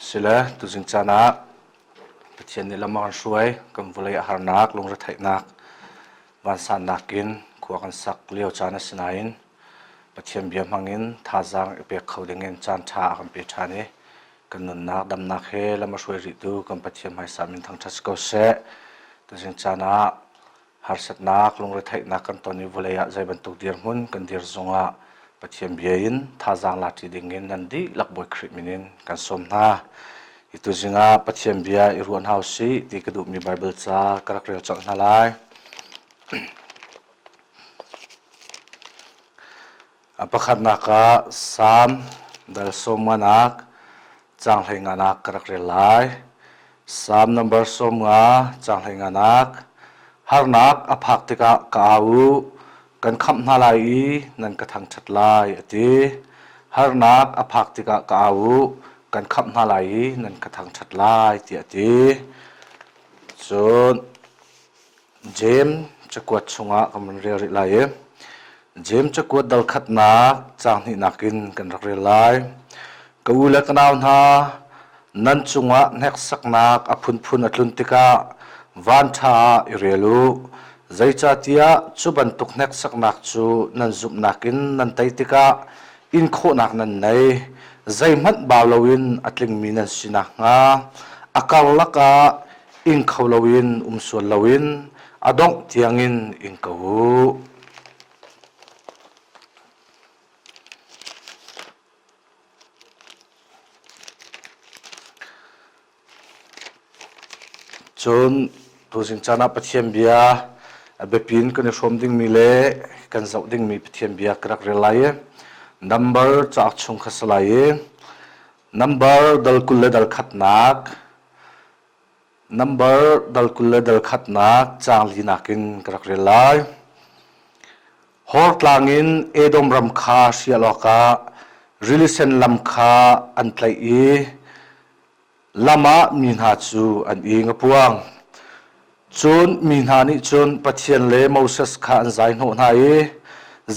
Sile tuzing caan ah Pathian nih lam a kan hruai. Kan vawlei a harnak, lungretheihnak, vansannak in khua kan sak lio caan a si nain Pathian bia hmangin thazaang i pek kho dingin caan ṭha a kan pe ṭhan i kan nunnak damnak he lam a hruai rihtu kan Pathian hmaisa min thangṭhat si ko seh. Tuzing caan ah Harsatnak, lungretheihnak kan ton i vawlei ah zei bantuk dirhmun kan dir zongah Pathian bia in thazaang lati dingin nan dihlak Bawi Khrih min in kan sawm hna. Hi tuzing ah Pathian bia i ruan hau sih ti ka duhmi Baibal ca ka rak rel cang hna lai. A pakhatnak ah Salm dal sawmnganak caang hleingaanak ka rak rel lai. Salm number sawmnga caang hleingaanak harnak a phak tikah ka au u kan khamh hna lai i nan ka thangṭhat lai a ti. Harnak a phak tikah ka au u kan khamh hna lai i nan ka thangṭhat lai tiah a ti. Cun Jeim cakuat chungah kan van rel rih lai i Jeim cakuat dalkhatnak caang hnihnak in kan rak rel lai. Ka u le ka nau hna, nan cungah hneksaknak a phunphun a tlun tikah vanṭha ah i rel u. Zeicahtiah cu bantuk hneksaknak cu nan zumhnak in nan tei tikah inkhawhnak nan nei, zeihmanh bau loin a tlingmi nan si nakhnga a karlak ah ing kho loin um sual loin a dongh tiangin ing ko u. Cun tuzing caan ah Pathian bia a biapi in kan i hrawm dingmi le kan zoh dingmi Pathian bia ka rak rel lai i Number cauk chung kha si lai i Number dal kul le dal khatnak Number dal kul le dal khatnak caang li nakin ka rak rel lai. Hor tlang in Edom ram kha sial awkah rili sen lam kha an tlaih i lam ah mi hna cu an ing a puang. Cun mi hna nih cun Pathian le Moses kha an zaihnawh hna i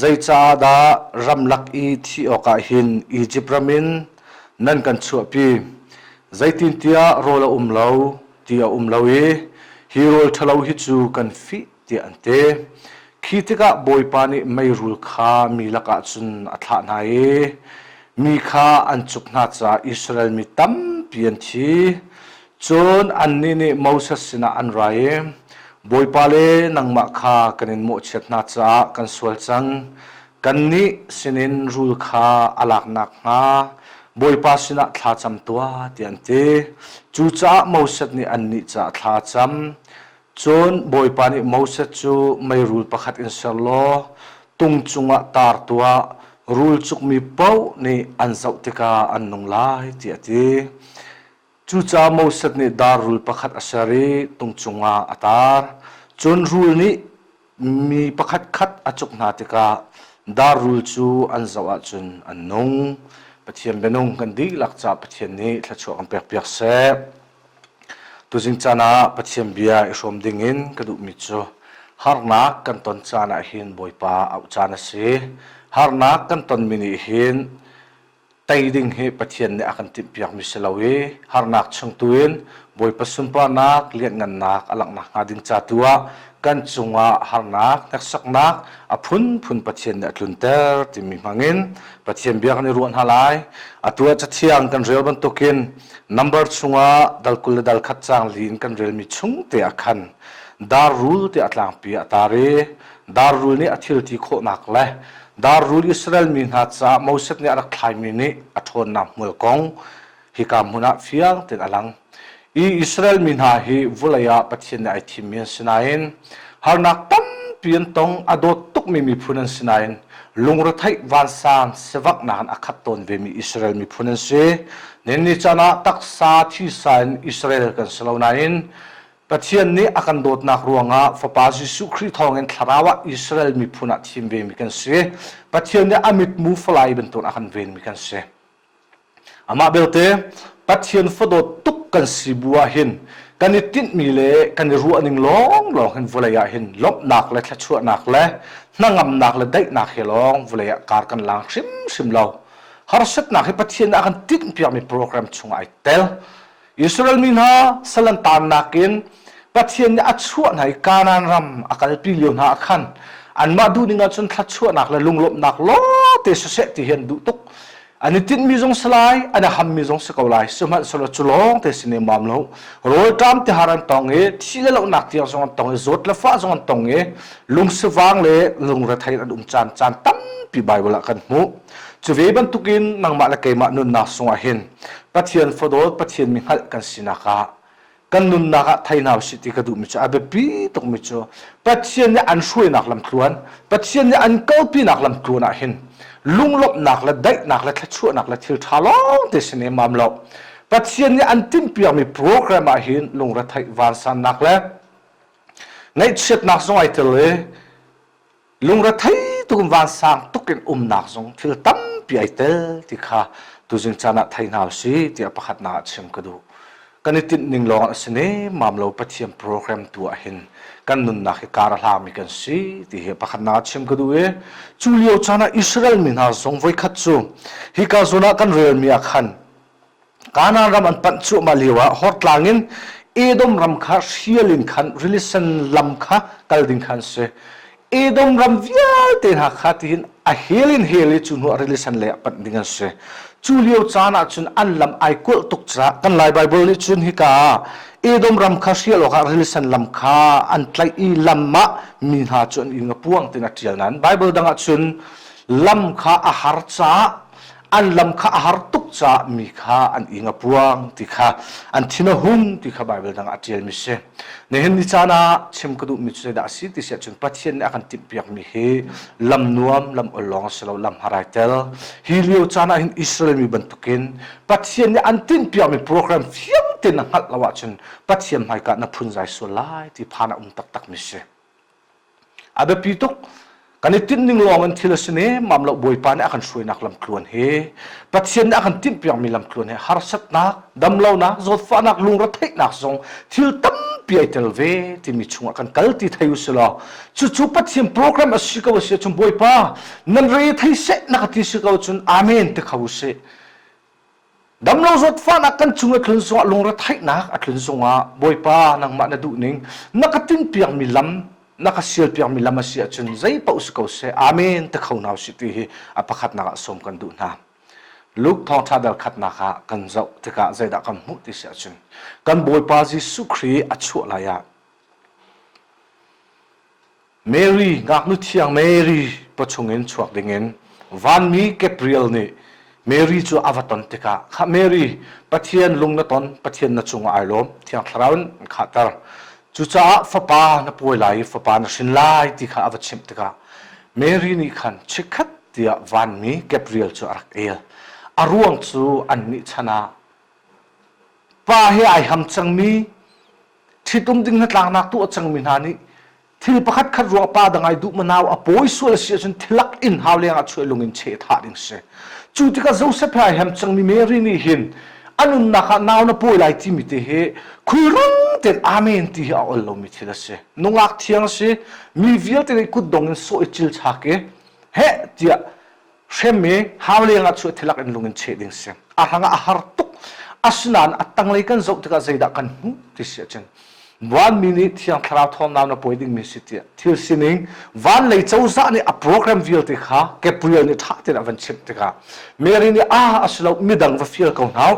zeicah dah ramlak i thih awkah hin Izipt ram in nan kan chuahpi? Zeitintiah rawl a um lo, ti a um lo i hi rawl ṭhalo hi cu kan fih. tiah an ti. Khi tikah Bawipa nih meirul kha mi lakah cun a thlah hna i mi kha an cuk hna caah Israel mi tampi an thi. Cun annih nih Moses sinah an ra i, Bawipa le nangmah kha kan in mawhchiat hna caah kan sual cang. Kannih sinin rul kha a lak nakhnga Bawipa sinah thla cam tuah, tiah an ti. Cucaah Moses nih annih caah thla a cam. Cun Bawipa nih Moses cu meirul pakhat in ser law tung cungah tar tuah, rul cukmi paoh nih an zoh tikah an nung lai, tiah a ti. Cucaah Moses nih dar rul pakhat a ser i tung cungah a tar. Cun rul nih Mi pakhatkhat a cuk hna tikah darrul cu an zoh ahcun an nung. Pathian bianung kan dihlak caah Pathian nih thluachuah kan pekpiak seh. Tuzing caan ah Pathian bia i hrawm ding in ka duhmi cu harnak kan ton caan ah hin Bawipa auh caan a si. Harnak kan tonmi nih hin tei ding hi Pathian nih a kan timhpiakmi si lo i harnak chung tu in Bawipa sunparnak, lianhngannak a langh nakhnga ding ca tu ah kan cungah harnak, hneksaknak a phunphun Pathian nih a tlunter timi hmangin Pathian bia kan i ruah hna lai. Atu ah cathiang kan rel bantukin number chungah dal kul le dal khat caang li in kan relmi chung te ah khan dar rul tiah a tlangpi a tar i dar rul nih a thil ti khawhnak le Darrul Israel mi hna caah Moses nih a rak thlaimi nih a ṭhawnnak hmual kong hika hmun ah fiang tein a lang. I Israel mi hna hi vulei ah Pathian nih ai thimmi an si nain harnak tampi an tong, a dawt tukmi miphun an si nain lungretheih vansang sivaknak in a khat tawn vemi Israel miphun an si. Nanni chan ah taksa thisa in Israel kan si lo nain Pathian nih a kan dawtnak ruangah Fapa Jesuh Khrih thawngin thlarau ah Israel miphun ah thim vemi kan si. Pathian nih a mitmu falai bantuk a kan venmi kan si. Amah belte Pathian fadawt tuk kan si bu ah hin kan i tinhmi le kan i ruahning lawnglawng hin vawlei ah hin lawmhnak le thluachuahnak le hnangamnak le daihnak he lawng vawlei ah kar kan lang hrimhrim lo. Harsatnak hi Pathian nih a kan tinhpiakmi program chungah ai tel. Israel mi hna sal an taannak in Pathian nih a chuah hna i Kanaan ram a kalpi lio hna ah khan anmah duhning ah cun thluachuahnak le lunglawmhnak lawngte siseh ti hi an duh tuk an i tinhmi zong si lai an i hammi zong si ko lai sihmanhsehlaw cu lawngte si ne mam lo rawlṭam tihar an tong i thih le lonak tiang zong an tong i zawt le fah zong an tong i lungsivang le lungrethei an um caan caan tampi Baibal ah kan hmuh Cu ve bantukin nangmah le keimah nunnak sungah hin Pathian fadawt Pathian mi hngalh kan sinak ah kan nunnak ah thei hna usih ti ka duhmi cu a biapi tukmi cu Pathian nih an hruainak lamthluan Pathian nih an kalpinak lamthluan ah hin lunglawmhnak le daihnak le thluachuahnak le thil ṭha lawng te si nemam lo Pathian nih an timhpiakmi program ah hin lungretheih vansannak le ngaihchiatnak zong ai tel i lungrethei tukum vansang tuk in umnak zong thil tampi ai tel ti kha tuzing caan ah thei hna usih tiah pakhatnak ah chim ka duh kan i tinh ning lawng a si ne mam lo pathian program tu ah hin kan nunnak hi kar a hlami kan si ti hi pakhatnak ah chim ka duh i cu lio caan ah Israel mi hna zong voikhat cu hi ka zon ah kan relmi ah khan Kanaan ram an panh cuahmah lioah hortlang in Edom ram kha hrial in khan rili sen lam kha kal ding kha an si. Edom ram vialte hna kha tihin a hel in hel i cu hnuah rili sen lei ah panh ding an si. Cu lio caan ahcun an lam ai kulh tuk caah kan Lai Baibal nih cun hika ah Edom ram kha hrial awkah rili sen lam kha an tlaih i lam ah mi hna cu an ing a puang tiin a ṭial nain Baibal dang ah cun lam kha a har caah an lam kha a har tuk caah mi kha an ing a puang ti kha an thin a hun ti kha Baibal dang ah ṭialmi si. Nihin ni caan ah chim ka duhmi cu zeidah a si ti si ahcun Pathian nih a kan timhpiakmi hi lam nuam, lam ol lawng a si lo, lam harai tel. Hi lio caan ah hin Israel mi bantukin Pathian nih an timhpiakmi program fiangte na hngalh lo ahcun Pathian hmaika na phunzai sual lai ti phan a um taktakmi si. A biapi tuk. Kan i tinh ning lawng in thil a si nemam lo. Bawipa nih a kan hruainak lamtluan hi Pathian nih a kan timh piakmi lamtluan hi harsatnak, damlonak, zawtfahnak, lungretheihnak zong thil tampi ai tel ve timi chungah kan kal ti thei usih law cucu Pathian program a si ko a si ahcun Bawipa nan re thei seh na ka ti si ko cun amen ti kho usih. Damlo zawt fahnak kan chung a tlun sungah lungre theihnak a tlun sungah Bawipa nangmah na duh ning na ka tin piakmi lam na ka sial piakmi lam a si ahcun zei paoh si ko seh amen te kho hna usih ti hi a pakhatnak ah sawm kan duh hna Luke thawngtha dal khatnak ah kan zoh tikah zeidah kan hmuh ti si ahcun kan Bawipa Jesuh Khrih a chuah lai ah Mary, ngaknu thiang Mary pa chungin chuak dingin vanmi Gabriel nih Mary cu a va ton tikah kha Mary Pathian lung na ton Pathian na cungah ai lawm thiang thlarau in an khahter cucaah fapa na pawi lai i fapa na hrin lai ti kha a va chimh tikah Mary nih khan chikkhat tiah vanmi Gabriel cu a rak el a ruang cu annih chan ah pa he ai ham cangmi ṭhitum ding hnatlaknak tu a cangmi hna nih thil pakhat khat ruang pa dangai duh manau a pawi sual a si ahcun thilak in hau lengah chuai lung in cheh thah ding si cu tikah Joseph he hem cangmi Mary nih hin a nunnak ah nau na pawi lai timi te hi khulrang ten amen ti hi a ol lomi thil a si nungak thiang a si mi vialte nih kutdong in sawh i cil chak i heh tiah hremmi hau lengah cu thilak in lung in cheh ding si a hrang ah a har tuk asinain a tanglei kan zoh tikah zeidah kan hmuh ti si ahcun vanmi nih thiang thlarau thawmnau na pawi dingmi si tiah thil sining van lei cozah nih a program vialte kha Gabriel nih ṭha tein a van chimh tikah Mary nih ah a si lo midang va fial ko hna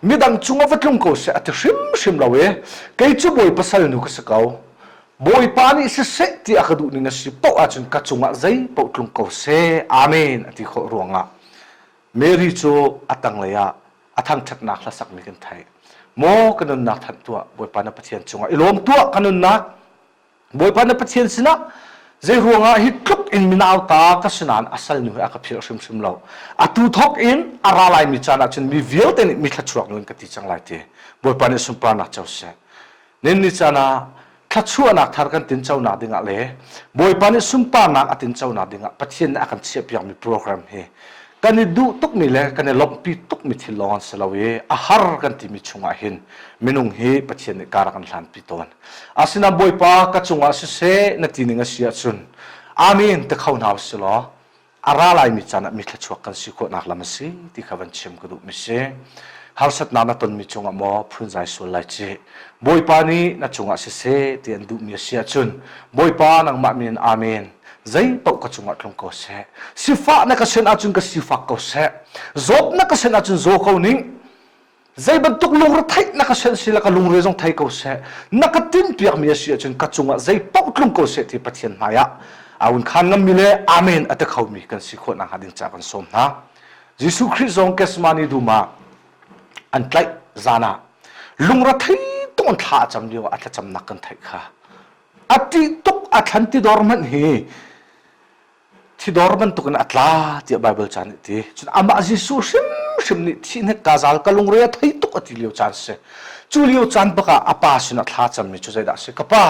midang cungah va tlung ko seh a ti hrimhrim lo i kei cu bawi pasal nu ka si ko Bawipa nih siseh ti a ka duhning a si paoh ahcun ka cungah zeipaoh tlung ko seh. Amen a ti khawh ruangah Mary cu a tanglei ah a thangṭhatnak hlasakmi kan theih. Maw ka nunnak thanh tuah, Bawipa na Pathian cungah i lawm tuah ka nunnak. Bawipa na Pathian sinah zei ruangah hi tluk in minauta ka si nain a salnu hi a ka philh hrimhrim lo. Atu thawk in a ra laimi caan ahcun mi vialte nih mi thluachuak ningin ka ti cang lai ti. Bawipa nih sunparnak co seh. Ninni caan ah thluachuahnak thar kan tinconak dingah le Bawipa nih sunparnak a tinconak dingah Pathian nih a kan chiahpiakmi program hi kan i duh tukmi le kan i lawmhpi tukmi thil lawng an si lo i a har kan timi chungah hin minung hi Pathian nih kar a kan hlanpi tawn. Asinain Bawipa ka cungah siseh na ti ning a si ahcun Amen ti kho hna u si law a ra laimi caan ah mithluachuak kan si khawhnak lam a si ti kha van chim ka duhmi si harsatnak na tonmi cungah maw phunzai sual lai ci bawipa nih na cungah siseh ti an duhmi a si ahcun bawipa nangmah min amen zei paoh ka cungah tlung ko seh sifah na ka sen ahcun ka sifak ko seh zawt na ka sen ahcun zaw ko ning zei bantuk lungretheih na ka senh si la ka lungre zong thei ko seh na ka tin piakmi a si ahcun ka cungah zei paoh tlung ko seh ti Pathian hmaiah awun khan ngam mi le amen a te khomi kan si khawh nakhnga ding ca kan sawm hna Jesuh Khrih zong Kesmani duma an tlaih zanah lungrethei tung an thla a cam lio ah a thlacamnak kan theih kha a tih tuk a thlan ti dor hmanh hi thidor bantukin a tla tiah Baibal caan nih ti. Cun amah Jesuh hrimhrim nih thihnek kazal ka lungre a thei tuk a ti lio caan si. Cu lio caan bakah a pa sinah thla cammi cu zeidah a si? Ka pa,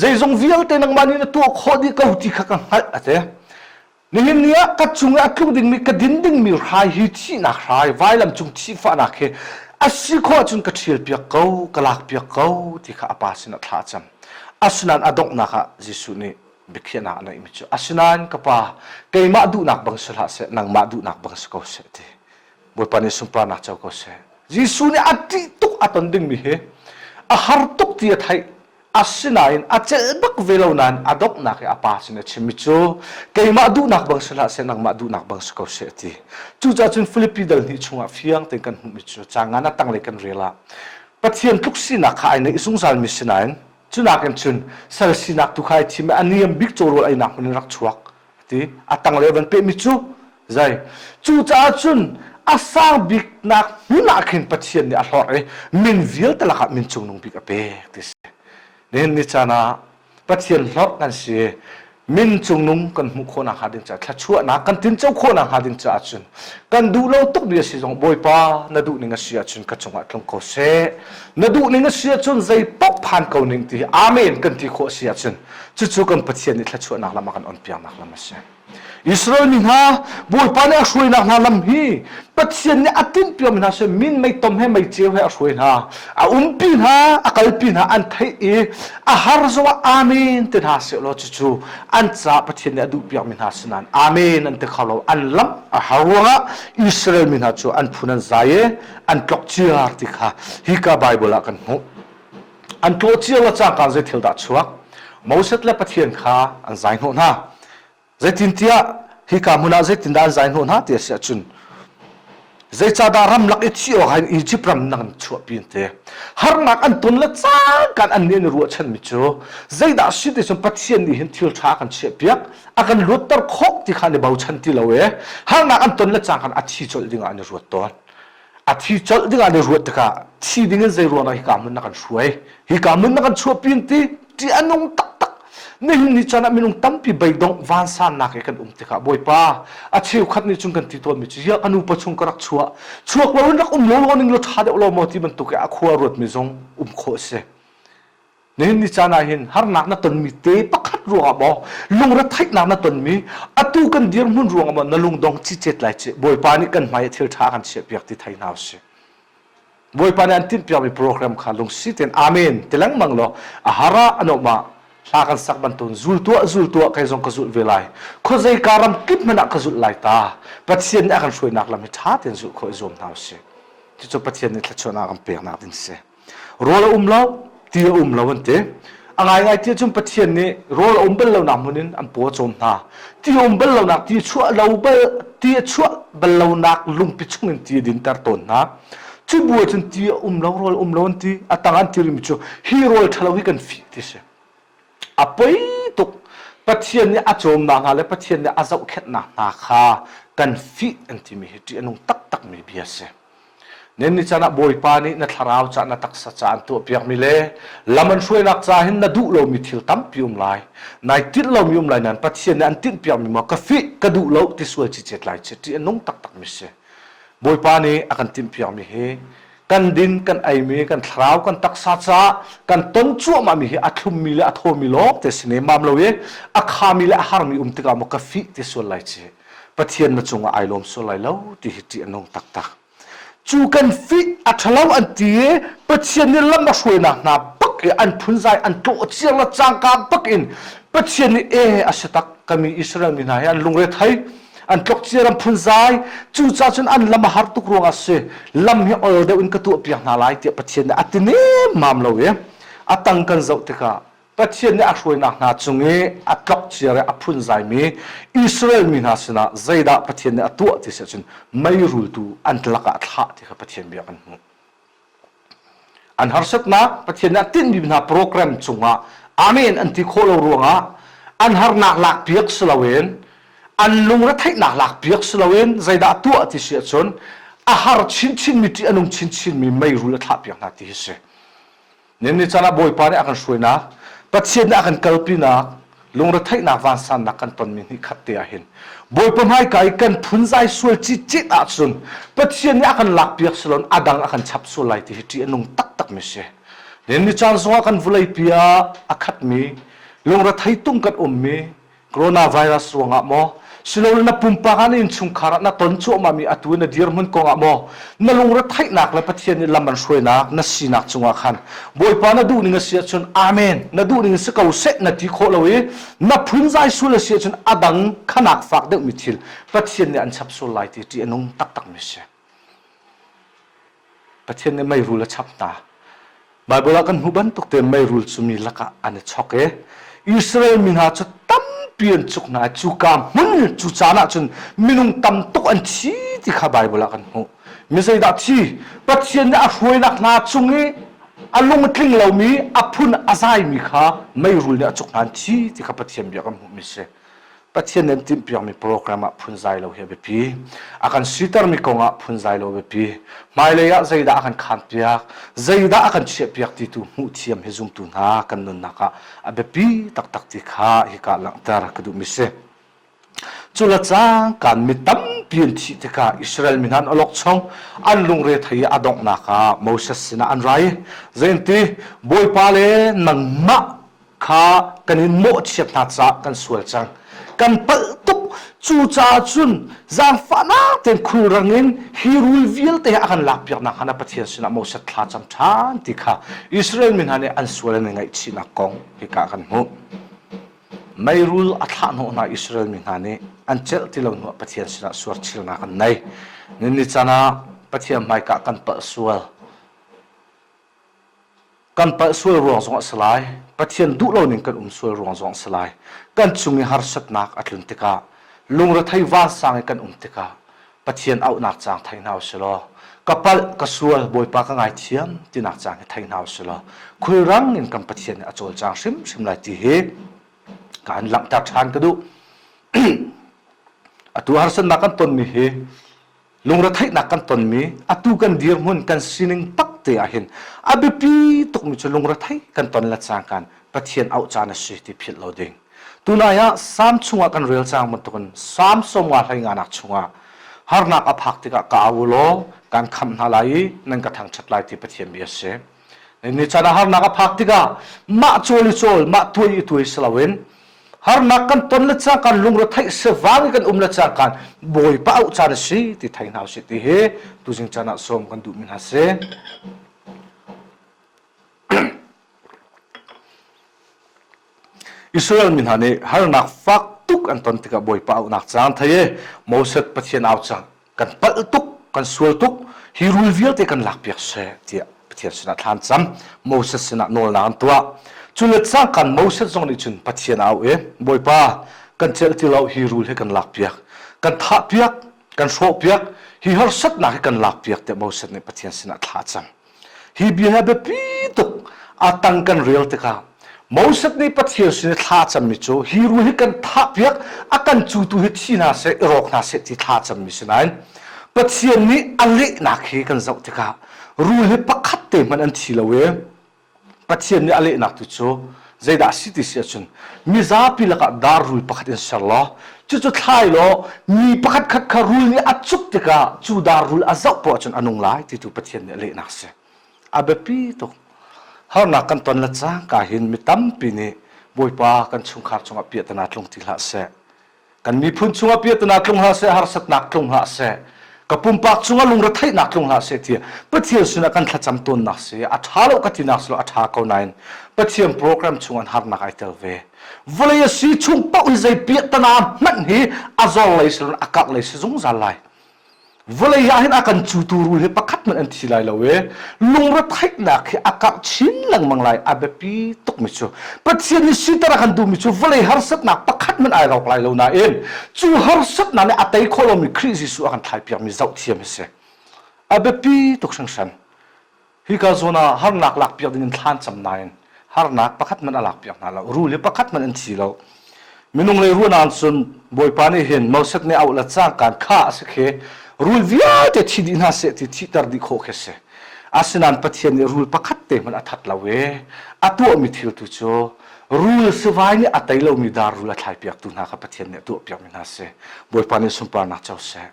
zeizong vialte nangmah nih na tuah khawh dih ko ti kha ka hngalh a ti. Nihin ni ah ka cung i a tluk dingmi ka din dingmi hrai hi thihnak hrai vailam cung thihfahnak hi a si khawh ahcun ka ṭhialpiak ko, ka lakpiak ko ti kha a pa sinah thla a cam. Asinain a donghnak ah Jesuh nih biakhiahnak a neihmi cu asinain ka pa keimah duhnak bang si hlah seh nangmah duhnak bang si ko seh ti Bawipa nih sunparnak co ko seh Jesuh nih a ṭih tuk a ton dingmi hi a har tuk ti a theih asinain a celh bak ve lo nain a donghnak i a pa sin a chimmi cu keimah duhnak bang si hlah seh nangmah duhnak bang si ko seh ti cucaah cun Filipi dal hnih chungah fiang tein kan hmuhmi cu ca ngan a tanglei kan rel ah Pathian tluk sinak kha ai neih zungzalmi sinain Cunak in cun sal sinak tu kha ai thim i a niam bik cawrawl einak hmun in rak chuak a ti. A tang le van pehmi cu zei cucaah cun a sang biknak hmun ah khin Pathian nih a hlorh i min vialte lakah min cungnung bik a pek ti si. Nihin ni caan ah Pathian hlorh kan si min cungnung kan hmuh khawh nakhnga ding caah thluachuahnak kan tinco khawh nakhnga ding caah cun kan duh lo tuk mi a si zong Bawipa na duh ning a si ahcun ka cungah tlung ko seh na duh ning a si ahcun zei paoh phan ko ning ti amen kan ti khawh a si ahcun cucu kan Pathian nih thluachuahnak lam a kan onpiaknak lam a si Israel mi hna Bawipa nih a hruainak hna lam hi Pathian nih a tinpiam hna si min mei tom he mei ceu he a hruai hna a umpi hna a kalpi hna an theih i a har zongah amen te hna sehlaw cucu an caah Pathian nih a duh piakmi hna sinain amen an ti kho lo an lamh a har ruangah Israel mi hna cu an phun an zai i an tlok ciar ti kha hika Bible ah kan hmuh an tlawh ciar le cangka zei thil dah chuak Moses le Pathian kha an zai hnawh hna Zeitintiah hika hmun ah zeitindah an zai hnawh hna ti a si ahcun zeicahdah ramlak i thih awk hin Izipt ram nang chuahpi an te harnak an ton le caan kan an nih ruahchanmi cu zeidah si ti cun Pathian nih hin thil ṭha kan chiahpiak a kan luatter khawh ti kha ni bochan ti lo i harnak an ton le caan kan a thi colh dingah an i ruat tawn a thi colh ding ah na ruat tikah thi ding in zei ruang dah hika hmun na kan hruai hika hmun na kan chuahpi in ti ṭih a nung taktak nihin ni can ah minung tampi beidongh vansannak he kan um tikah bawipa a cheukhat nih cun kan ti tawnmi cu ya ka nupa chung ka rak chuah chuak lo in rak um lo lo ning lo ṭha deuh lo maw ti bantuk i a khua ruatmi zong um khawh a si Nihin ni caan ah hin harnak na tonmi te pakhat ruangah maw lungretheihnak na tonmi atu kan dirhmun ruangah maw na lungdong cicet lai ci Bawipa nih kan hmai thil ṭha kan chiahpiak ti thai hna usih. Bawipa nih an timhpiakmi program kha lungsi tein amen ti lengmang law a har ah an um ah hla kan sak bantuan zul tuah zul tuah kai zong ka zulh ve lai khuazei ka ram kip hmanh ah ka zulh lai ta pathian nih a kan hruainak lam hi ṭha tein zulh khawh i zuam hna usih cucu pathian nih thluachuahnak kan peknak din si rawl a um lo ti a um lo an ti a ngaingai ti cun pathian nih rawl a um bal lonak hmun in an paw cawm hna ti a um bal lonak ti chuah lo bal ti a chuah bal lonak lungpi chung in ti a dinter tawn hna cu bu cun ti a um lo rawl um lo an ti a tang an ti rimi cu hi rawl ṭhalo hi kan fih ti si A poi tuk Pathian nih a cawmnak hna le Pathian nih a zohkhenhnak hna kha kan fih an timi hi ṭih a nung taktakmi bia a si. Nan ni caan ah Bawipa nih na thlarau ca na taksa ca an tuahpiakmi le lam an hruainak ca hin na duh lomi thil tampi um lai. Nai tinh lomi um lai nain Pathian nih an tinhpiakmi maw ka fih ka duh lo ti sual cicet lai ci ṭih a nung taktakmi si. Bawipa nih a kan timhpiakmi hi kan din kan eimi kan thlarau kan taksa caah kan ton cuahmahmi hi a thlummi le a thawmi lawng te si ne mam lo i a khami le a harmi um tikah maw ka fih te sual lai ci pathian na cungah ai lawm sual lai lo ti hi ṭih an nong taktak cu kan fih a ṭhalo an ti i pathian nih lam a hruainak hna bak i an phunzai an tlawh ciar le cangka bak in pathian nih e a si tak kami Israel mi hna hi an lungre thei an tlokcia ram phun zai cucaah cun an lam a har tuk ruangah si lam hi ol deuh in ka tuah piak hna lai tiah Pathian nih a ti nemmam lo i a tang kan zoh tikah Pathian nih a hruainak hna cung i a tlokcia i a phun zaimi Israel mi hna sinah zeidah Pathian nih a tuah ti si cun meirultu an tlak ah thlah ti kha Pathian bia kan hmuh An harsatnak Pathian nih a tinhmi hna program cungah amen an ti khawh lo ruangah an harnak lak piak si loin an lungretheihnak lak piak si loin zeidah a tuah ti si ahcun a har chinchinmi ṭih a nung chinchinmi meirul a thlah piak hna ti hi si. Niam ni caan ah Bawipa nih a kan hruainak, Pathian nih a kan kalpinak, lungretheihnak vansannak kan tonmi ni khat te ahhin Bawipa hmaika i kan phunzai sual citcit ahcun Pathian nih a kan lakpiak si loin a dang a kan chap sual lai ti hi ṭih a nung taktakmi si. Niam ni caan zongah kan vulei pi ah a khatmi, lungrethei tung kan ummi, coronavirus ruangah maw siloin na pumpak ah na innchungkhar ah na ton cuahmahmi atu na dirhmun kongah maw na lungre theihnak le pathian nih lam an hruainak na sinak cungah khan bawipa na duh ning a si ahcun amen na duh ning si ko seh na ti khawh lo i na phunzai sul a si ahcun a dang khanak fak deuhmi thil pathian nih an chap sual lai ti ṭi a nung taktakmi si Pathian nih meirul a chap hna. Baibal ah kan hmuh bantuk te meirul cu mi lakah an i chok i Israel mi hna cu tampi an cuk hna i cuka hmun cu caan ahcun minung tam tuk an thi ti kha Baibal ah kan hmuh. Mi zeidah thi? Pathian nih a hruainak hna chung i a lungtling lomi, a phun a zaimi kha meirul nih a cuk hna an thi ti kha Pathian bia kan hmuhmi a si. Pathian an timhpiakmi program ah phunzai lo hi a biapi. A kan sitermi kong ah phunzai lo a biapi. Hmailei ah zeidah a kan khaanpiak, zeidah a kan chiahpiak ti tu hmuhthiam hi zumtu hna kan nunnak ah a biapi taktak ti kha hika langhter ka duhmi si. Cula cang kan mi tampi an thih tikah Israel mi hna an olok chong an lungre thei a donghnak ah Moses sinah an rai. Zein ti Bawipa le nangmah kha kan in mawhchiat hna caah kan sual cang kan palh tuk cu caah cun zaangfahnak tein khulrang in hi rul vialte a kan lakpiak nak hana Pathian sinah Moses thla cam ṭhan ti kha Israel mi hna nih an sual an i ngaihchihnak kong hika kan hmuh mei rul a thlah hnawh hna Israel mi hna nih an celh ti lo hnuah Pathian sinah suarchilnak an nei ni can ah Pathian hmaikah kan palh sual Kan palh sual ruang zong a si lai. Pathian duh lo ning kan um sual ruang zong a si lai. Kan cung i harsatnak a tlun tikah, lungrethei vansang i kan um tikah, Pathian auhnak caang thei hna u si law, ka palh, ka sual, Bawipa ka ngaithiam tinak caang hi thei hna u si law, khulrang in kan Pathian nih a cawlcang hrimhrim lai ti hi ka an langhter ṭhan ka duh. Atu harsatnak kan tonmi hi lungretheihnak kan tonmi atu kan dirhmun kan sining takte ahhin a biapi tukmi cu lungrethei kan ton le cangkan Pathian auh caan a si ti philh lo ding tunai ah sam chungah kan rel cang bantukin sam sawmnga hleinanak chungah harnak a phak tikah ka au law kan khamh hna lai i nan ka thangṭhat lai ti Pathian bia a si Nichan ah harnak a phak tikah mah cawl i cawl, mah tuai i tuai si loin harnak kan ton le cang kan lungre theih se vang i kan um le cang kan bawipa auh caan a si ti thei hna usih ti hi tuzing caan ah sawm kan duh mi hna si. Israel mi hna nih harnak fak tuk an ton tikah bawipa auhnak caan thei i Moses Pathian au cang kan palh tuk kan sual tuk hi rul vialte kan lak piak seh tiah Pathian sinah thlan cam Moses sinah nawlnak an tuah cu let sang kan Moses zong nih cun Pathian au e Bawipa kan cel ti lo hi rul he kan lak piak kan thah piak kan hrawh piak hi harsatnak hi kan lak piak tiah Moses nih Pathian sinah thla a cam Hi bia hi a biapi tuk a tang kan rel tikah Moses nih Pathian sin i thla a cammi cu hi ru hi kan thah piak a kan cutu hi thi hna seh i rawk hna seh ti thla a cammi si nain Pathian nih a lehnak hi kan zoh tikah ru hi pakhat te hmanh an thi lo i Pathian nih a lehnak tu cu zeidah a si ti si ahcun mizapi lakah darrui pakhat in ser law cucu thlai law mi pakhat khat kha rul nih a cuk tikah cu darrul a zoh poh ahcun a nung lai ti tu Pathian nih a lehnak si a biapi tuk harnak kan ton le cangka hin mi tampi nih Bawipa kan chungkhar chungah piahtana tlung ti hlah seh kan miphun chungah piatnak tlung hlah seh harsatnak tlung hlah seh ka pumpak chungah lungretheihnak tlung hlah seh tia pathian sinah kan thlacam tawnnak si a ṭha lo ka tinak silo a ṭha ko nain pathian program chungah harnak ai tel ve vawlei a si chung paoh i zei piahtana hmanh hi a zor lei silon a kak lei si zungzal lai vawlei ah hin a kan cutu rul hi pakhat hmanh an thi lai lo i lungre theihnak hi a karh chin lengmang lai a biapi tukmi cu Pathian nih siter a kan duhmi cu vawlei harsatnak pakhat hmanh ai rawk lai lo nain cu harsatnak nih a tei khawh lomi Khrih Jesuh a kan thlai piakmi zohthiam hi si a biapi tuk hringhran Hika zawn ah harnak lakpiak ding in thlan cam nain harnak pakhat hmanh a lakpiak hna lo. Ru le pakhat hmanh an thi lo. Minung le ruah nan cun Bawipa nih hin Moses nih auh la cangkan kha a si khi rul vialte thi dih hna seh ti thihter dih khawh khi si. Asinain Pathian nih rul pakhat te hmanh a that lo i a tuahmi thil tu cu rul sivai nih a tei lomi dar rul a thlai piaktu hna kha Pathian nih a tuah piakmi hna si. Bawipa nih sunparnak co seh.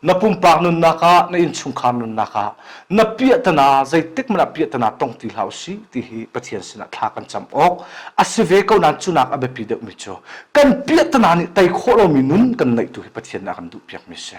Na pumpak nunnak ah, na innchungkhar nunnak ah na piahtana zeitikhmanh ah piahtana tong ti hlah usih ti hi Pathian sinah thla kan cam awk a si ve ko nain cu nak a biapi deuhmi cu kan piahtana nih tei khawh lomi nun kan neihtu hi Pathian nih a kan duh piakmi a si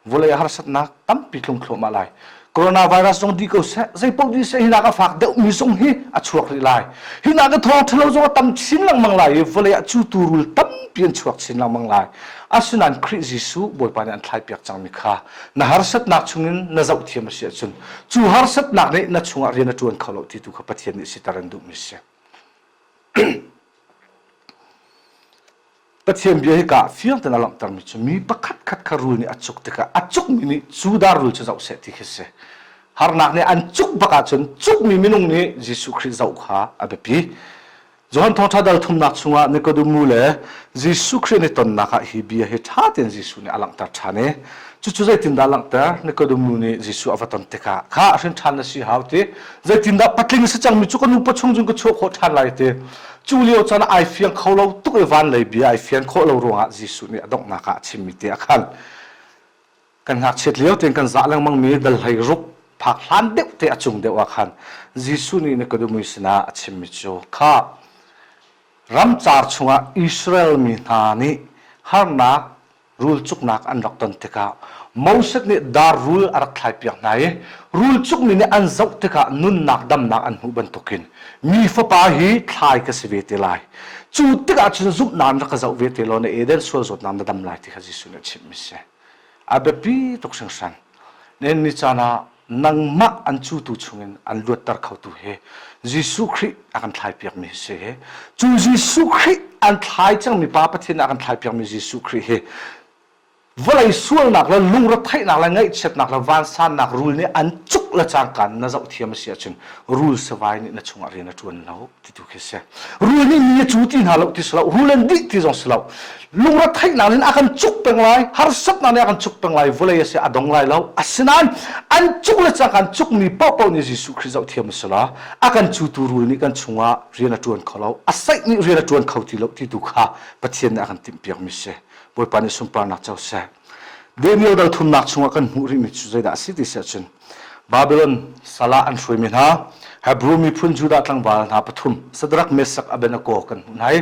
vawlei harsatnak tampi tlung thluahmah lai coronavirus zong di ko seh zeipaoh di seh hinak a fak deuhmi zong hi a chuak rih lai hinak a thawng ṭhalo zong a tam chin lengmang lai i vawlei ah cu tuurul tampi an chuak chin lengmang lai asinain Khrih Jesuh Bawipa nih an thlaipiak cangmi kha na harsatnak chungin na zoh thiam a si ahcun cu harsatnak nih na chungah rian a ṭuan kho lo ti tu kha Pathian nih siter an duhmi a si Pathian bia hi ka fiang tein a langhtermi cu mi pakhatkhat kha rul nih a cuk tikah a cukmi nih Judah rul cu zoh seh ti khi si. Harnak nih an cuk bak ahcun cukmi minung nih Jesuh Khrih zoh kha a biapi. Johan Thawngṭha dal thumnak chungah Nikodemu le Jesuh Khrih nih tonnak ah hi bia hi ṭha tein Jesuh nih a langhter ṭhan i cucu zeitindah a langhter? Nikodemu nih Jesuh a va ton tikah kha a hrin ṭhan a si hau ti zeitindah patling a si cangmi cu ka nupa chung cun ka chuah khawh ṭhan lai ti Cu lio chan ah ai fiang kho lo tuk i van lei bia ai fian khawh lo ruangah Jesuh nih a donghnak ah a chimmi te ah khan kan ngakchiat lio tein kan zah lengmangmi dalhlei ruk phak hlan deuh te a cung deuh ah khan Jesuh nih Nikodemu sinah a chimmi cu kha ramcar chungah Israel mi hna nih harnak rulcuknak an rak ton tikah Moses nih dar rul a rak thlaipiak hna i rulcukmi nih an zoh tikah nunnak damnak an hmuh bantukin mi fapa hi thlai ka si ve te lai cu tikah cun zumhnak in rak ka zoh ve te law na Eden sual zawtnak na dam lai ti kha Jesuh nih a chimh mi si a biapi tuk hringhran na ni caan ah nangmah an cutu chungin an luatter khotu hi Jesuh Khrih a kan thlai piakmi a si hi cu Jesuh Khrih an thlai cangmi Pa Pathian a kan thlai piakmi Jesuh Khrih hi vawlei sualnak le lungretheihnak le ngaihchiatnak le vansannak rul nih an cuk le cangka na zoh thiam a si ahcun rul savai nih na chungah rian a ṭuan lo tu khi si rul nih mi a cu ti hna lo ti si lo rulen dih ti zong si lo lungre theihnak in a kan cuk peng lai harsatnak nih a kan cuk peng lai vulei a si a dong lai lo asinain an cuk le cak an cuk mi pohpoh nih Jesuh Khrih zoh thiam a si la a kan cutu rul nih kan chungah rian a ṭuan kho lo a saih nih rian a ṭuan kho ti lo ti tu kha Pathian nih a kan timhpiak mi si Bawipa nih sunparnak co seh Daniel darthumnak chungah kan hmuh rihmi cu zeidah a si ti si ahcun Babilon sal ah an hruaimi hna Hebrew miphun Judah tlangval hna pathum Sadrak Messak Abednego kan hmuh hna i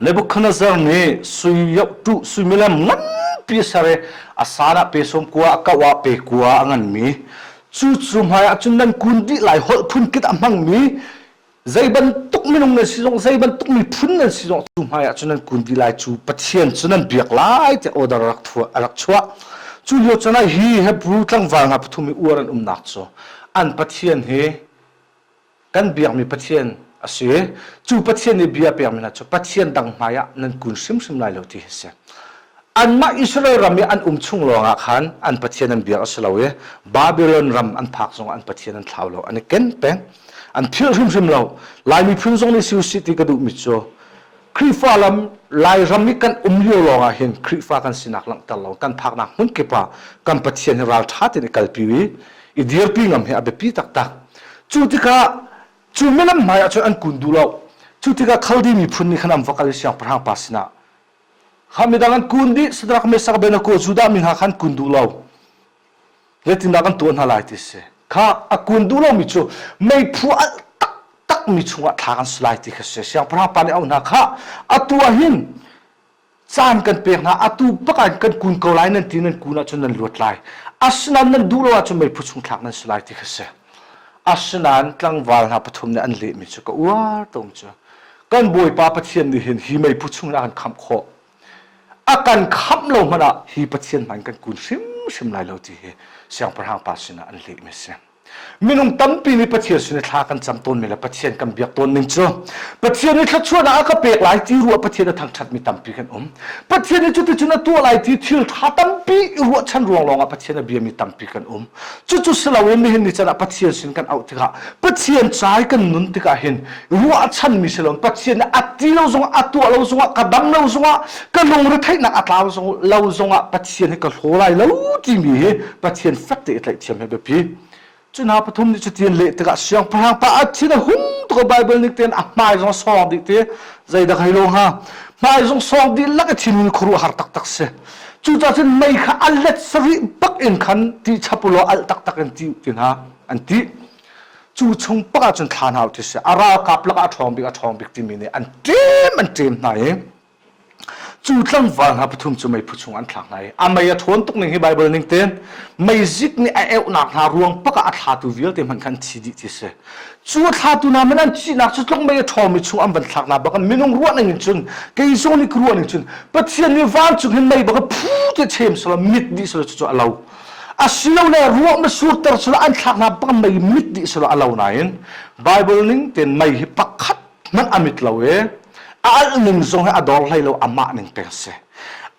Nebuchadnezzar nih suiyoh tuh suimilem nganpi a ser i a san ah pe sawm kua a kauh ah pe kua a nganmi cucu hmaiah cun nan kun dih lai holh phun kip a hmangmi Zei bantuk minung nan si zong, zei bantuk miphun nan si zong, cu hmai ah cun nan kun dih lai. Cu Pathian cu nan biak lai tiah order rak rak chuah. Cu lio cun ah hi Hebrew tlangval hna pathum i uar an umnak cu an Pathian hi kan biakmi Pathian a si i cu Pathian nih bia pekmi hna cu Pathian dang hmai ah nan kun hrimhrim lai lo ti a si. Anmah Israel ram i an um chung lawngah khan an pathian an biak a si lo i Babilon ram an phak zongah an pathian an thlau lo an i ken peng an philh hrimhrim lo lai miphun zong nih si usih ti ka duhmi cu Khrihfa lam Lairam i kan um lio lawngah hin Khrihfa kan sinak langhter lo kan phaknak hmun kip ah kan pathian hi ralṭha tein i kalpi i i dirpi ngam hi a biapi taktak cu tikah cu milam hmaiah cun an kun duh lo cu tikah Khaldi miphun nih khan an va kal i siangpahrang pa sinah ha midang an kun dih sadarak mesak ben ko judah mi ha khan kun duh lo zetindak an tuah hna lai ti si kha a kun duh lo mi cu meiphu a tak tak mi chungah thla kan su lai ti kha si siang prang pa le au hna kha atu ah hin caan kan pek hna atu pakan kan kun ko lai nan ti nan kun ah cun nan luat lai asinain nan duh lo ah cun meiphu chung thlak nan si lai ti kha si Asinain tlangval hna pathum nih an lehmi cu ka uar tung cu kan Bawipa Pathian nih hin hi meiphu chung ah a kan khamh khawh a kan khamh lo hmanh ah hi Pathian hmanh kan kun hrimhrim lai lo ti hi siangpahrang pa sinah an lehmi a si minung tampi nih Pathian sin i thla kan cam tawn men le Pathian kan biak tawn ning cu Pathian nih thluachuahnak a ka pek lai ti ruah Pathian a thangṭhatmi tampi kan um Pathian nih cuticun a tuah lai ti thil ṭha tampi i ruahchan ruang lawngah Pathian a biami tampi kan um cucu si loin nihin ni can ah Pathian sin kan auh tikah Pathian cai kan nun tikah hin ruahchanmi si loin Pathian nih a ti lo zongah a tuah lo zongah ka dang lo zongah ka lungretheihnak a tlau zong lo zongah Pathian hi ka hlaw lai lo timi hi Pathian fek te i tlaihtiam he biapi cuna pathum nih cutin leh tikah siangpahrang pa a thin a hun tuk Bible nih ten a hmai zong sawng dih ti zeidah kai lo hnga hmai zong sawng dih lak i thinhun khuaruah har taktak si Cucah cun mei kha a let sarih bak in khan ti chapulo al taktak in ti ti hna an ti. Cu chung pak ah cun thlan hau thi a ralkap lakah a ṭhawng bik a ṭhawng bik timi nih an ṭem an ṭem hna i cu tlangval hna pathum cu mei phu chung an thlak hna i a mei a ṭhawn tuk ning hi Baibal ning tin meizik nih a euhnak hna ruang pak ah a thlatu vialte hmanh khan thi dih ti a si cu thlatu na man an sinak cu tluk mei a ṭhawmi chung an van thlak na bak minung ruah ning in cun kei zong nih ruah ning cun pathian nih vancung hin mei bak phu te chem sala mit dih sala cu a lo asilole ruah ma surter sala an thlak na bak mei mit dih sala a lo nain bible ning ten mei hi pakhat nan amit lo i a alh ning zong hi a dor hlei lo amah ning peng a si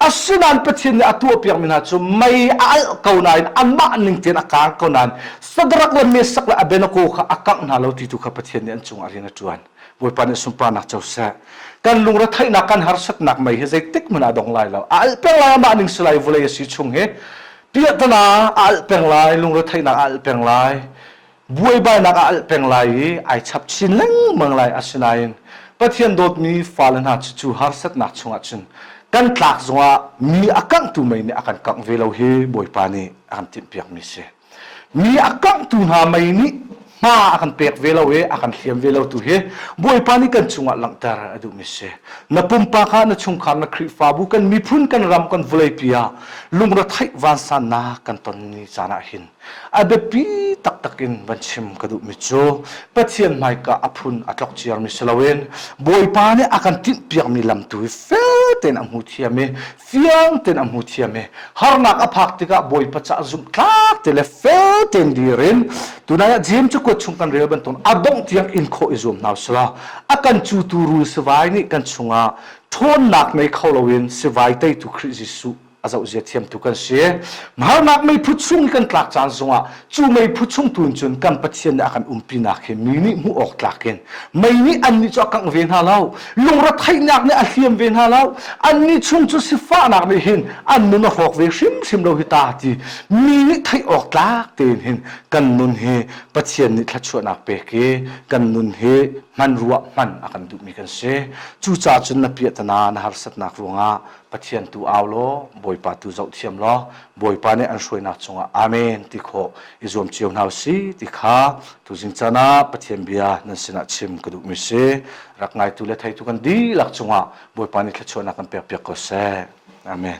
asinain Pathian nih a tuahpiakmi hna cu mei a alh ko nain anmah ning tein a kang ko nain Sadrak le Meshak le Abednego kha a kangh hna lo ti tu kha Pathian nih an cungah rian a ṭuan Bawipa nih sunparnak co seh kan lungretheihnak kan harsatnak mei hi zeitik hmanh ah a dong lai lo a alh peng lai amah ning si lai vawlei a si chung hi piahtana a alh peng lai lungretheihnak a alh peng lai buaibainak ah alh peng lai i ai chap chin lengmang lai asinain Pathian dawtmi fale hna cu cu harsatnak chungah cun kan tlak zongah mi a kanghtu mei nih a kan kangh ve lo hi Bawipa nih a kan timhpiakmi si mi a kanghtu hna mei nih hma a kan pek ve lo i a kan hliam ve lo tu hi Bawipa nih kan chungah langhter a duhmi si na pumpak ah na chungkhar na Khrihfabu kan miphun kan ram kan vulei pi ah lungretheih vansannak kan ton ni caan ah hin A biapi taktak in van chim ka duhmi cu Pathian hmaika a phun a tlok ciarmi si loin Bawipa nih a kan tinh piakmi lam tu hi fel tein a hmu thiam i fiang tein a hmu thiam i harnak a phak tikah Bawipa caah zumhtlak te le fel tein dir in tunai ah Jeim cu kuat chung kan rel bantuan a dongh tiang in khawh i zuam hna sila a kan cutu rul sivai nih kan chungah ṭhawnnak ngei kho loin sivai teitu Khrih Jesuh a zoh zia thiam tu kan si harnak meiphu chung i kan tlak caan zongah cu meiphu chung tu in cun kan pathian nih a kan umpinak hi mi nih hmuh awk tlakin mei nih an nih cu a kangh ve hna lo lungre theihnak nih a hliam ve hna lo an nih chung cu sifahnak nih hin an nun a hrawk ve hrimhrim lo hi ta ti mi nih theih awk tlak tein hin kan nun hi pathian nih thlachuahnak pek i kan nun hi hman ruah hman a kan duhmi kan si cucaah cun na piahtana na harsatnak ruangah Pathian tu au law Bawipa tu zoh thiam law Bawipa nih an hruainak cungah amen ti khawh i zuam cio hna si ti kha tuzing can ah Pathian bia nan sinah chim ka duhmi si rak ngaitu le theitu kan dihlak cungah Bawipa nih thluachuahnak kan pek piak ko seh amen